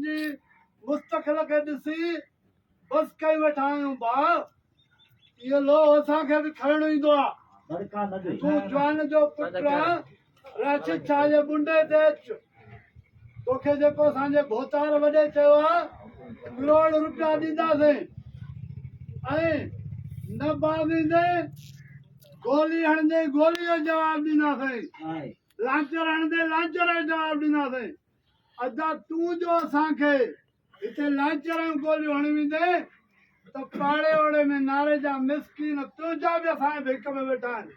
جي مستقل کي ڏسي بس ڪئي ويٺا آهيون ڀاء اهو لوهه اسان کي به کڻڻ ايندو آ تون جوان جو پٽ آ راشد شاهه جي ٻنڊي تي اچ توکي جيڪو اسان جي ڀوتار وڏي چيو آ ڪروڙ روپيا ڏينداسين ۽ نه باويندي گولي هڻندي گولي جو جواب ڏينداسين لانچر هڻندي لانچر جو جواب ڏينداسين ادا تون جو اسان کي هتي لانچرن جون گوليون هڻي ويندين ته پاڙي اوڙي ۾ ناري جا مسڪين تنهنجا به اسان جي ڀيڪ ۾ ويٺا آهن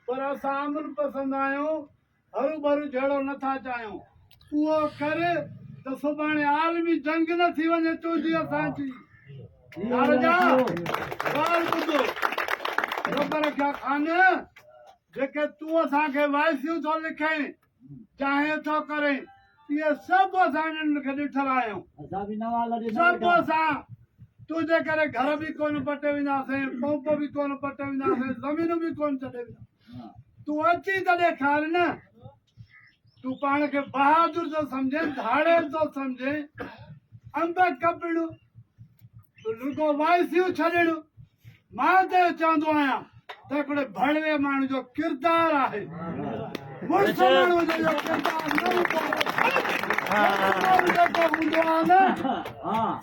پر اسان امن پسند آهيون هرو ڀرو جهيڙو نه ٿا چاهيون اهو ڪر ته سڀاڻي عالمي جنگ نه ٿي وڃي تنهنجي اسان جي ناري جا ڳالهه ٻڌو رب رکيا خان جيڪي تون اسان کي وائسيون ٿو لکين چاهي ٿو ڪري اهي سڀ اسان انهن کي ڏٺل آهيون سڀ اسان تنهنجي ڪري گهر به ڪونه پٽي وينداسين پمپ به ڪونه پٽي وينداسين زمينون به ڪونه چٽي وينداسين تون اچي ته ڏيکار نه تون پاڻ کي بهادر ٿو سمجھين ڌاڙي ٿو سمجھين انب کپڻ تون رڳو وائسيون ڇڏڻ مان ته اهو چوندو آهيان ته هڪڙي ڀڙوي ماڻهو جو ڪردار آهي مڙس ماڻهو جو اهو ڪردار نه هوندو آهي جيڪو هوندو آهي نه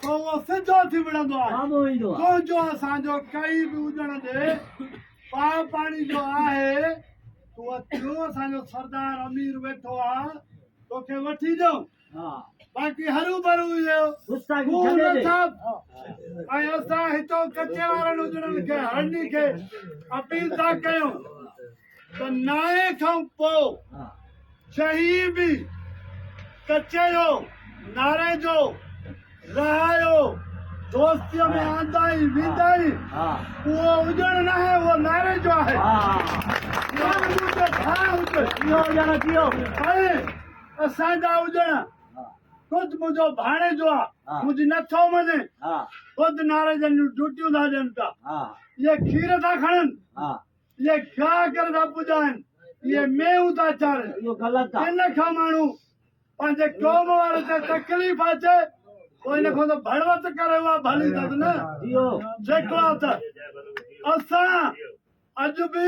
سو اهو سڌو ٿي وڙهندو آهي ڪنهن جو اسان جو ڪئي به اجڻ ڏي پاء پاڻي جو آهي تون اچ جو اسان جو سردار امير ويٺو آهي توکي وٺي ڏيون باقي هروڀرو اهو خون اٿم ۽ اسان هتون ڪچي وارن اجڙن کي هرني کي اپيل ٿا ڪيون ته نائين کان پوء جهي به ڪچي جو ناري جو رهايو دوستيء ۾ آندائين ويندائين اهو اجڙ ناهي اهو ناري جو آهي ۽ اسان جا اجڻ خود منهنجو ڀاڻيجو آ منهنجي نه ٿو مڃي خود ناري جن جون ڊيوٽيون ٿا ڏين پيا اهي کير ٿا کڻن اهي گاهه ڪري ٿا پڄائن اهي مينهون ٿا چارين ان کان ماڻهو پنهنجي قوم وارن تي تڪليف اچي پوء ان کان ته ڀڙوت ڪري اها ڀلي اٿس نه جيڪو آ ته اسان اڄ به